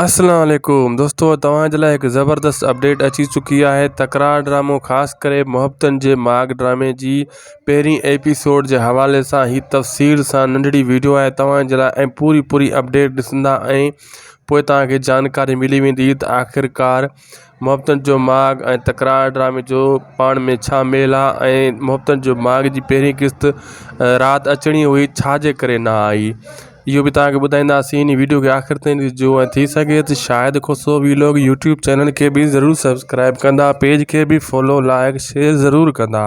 اسلام عليڪم دوستو توهان جي لاء هڪ زبردست اپڊيٽ اچي چڪي آهي تڪرار ڊرامو خاص ڪري محبتن جي ماڳ ڊرامي جي پهرين ايپيسوڊ جي حوالي سان هي تفصيل سان ننڍڙي ويڊيو آهي توهان جي لاء ۽ پوري پوري اپڊيٽ ڏسندا ۽ پوء توهان کي جانڪاري ملي ويندي ته آخرڪار محبتن جو ماڳ ۽ تڪرار ڊرامي جو پاڻ ۾ ڇا ميل آ ۽ محبتن جو ماڳ جي پهرين قسط رات اچڻي هئي ڇا جي ڪري نه آئي اهو به تهانکي ٻڌائينداسين انهي ويڊيو کي آخر تائين ڏسجو ۽ ٿي سگهي ته Shahid Khoso vlog YouTube channel کي به ضرور سبسڪرائب ڪندا پيج کي به فالو لائڪ شيئر ضرور ڪندا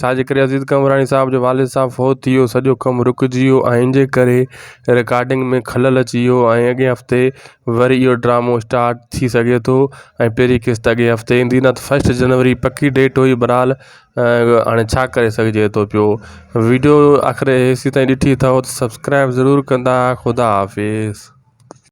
ڇا جي ڪري عزيز قمبراڻي صاحب جو والد صاحب فوت ٿي ويو سڄو ڪم رڪجي ويو ۽ ان جي ڪري رڪارڊنگ ۾ خلل اچي ويو ۽ اڳئين هفتي وري اهو ڊرامو اسٽارٽ ٿي سگهي ٿو ۽ پهرين قسط اڳئين هفتي ايندي نه ته فسٽ جنوري پڪي ڊيٽ هئي برحال هاڻي ڇا ڪري سگهجي ٿو پيو ويڊيو آخر هيسي تائين ڏٺي اٿو ته سبسڪرائب ضرور ڪندا خدا حافظ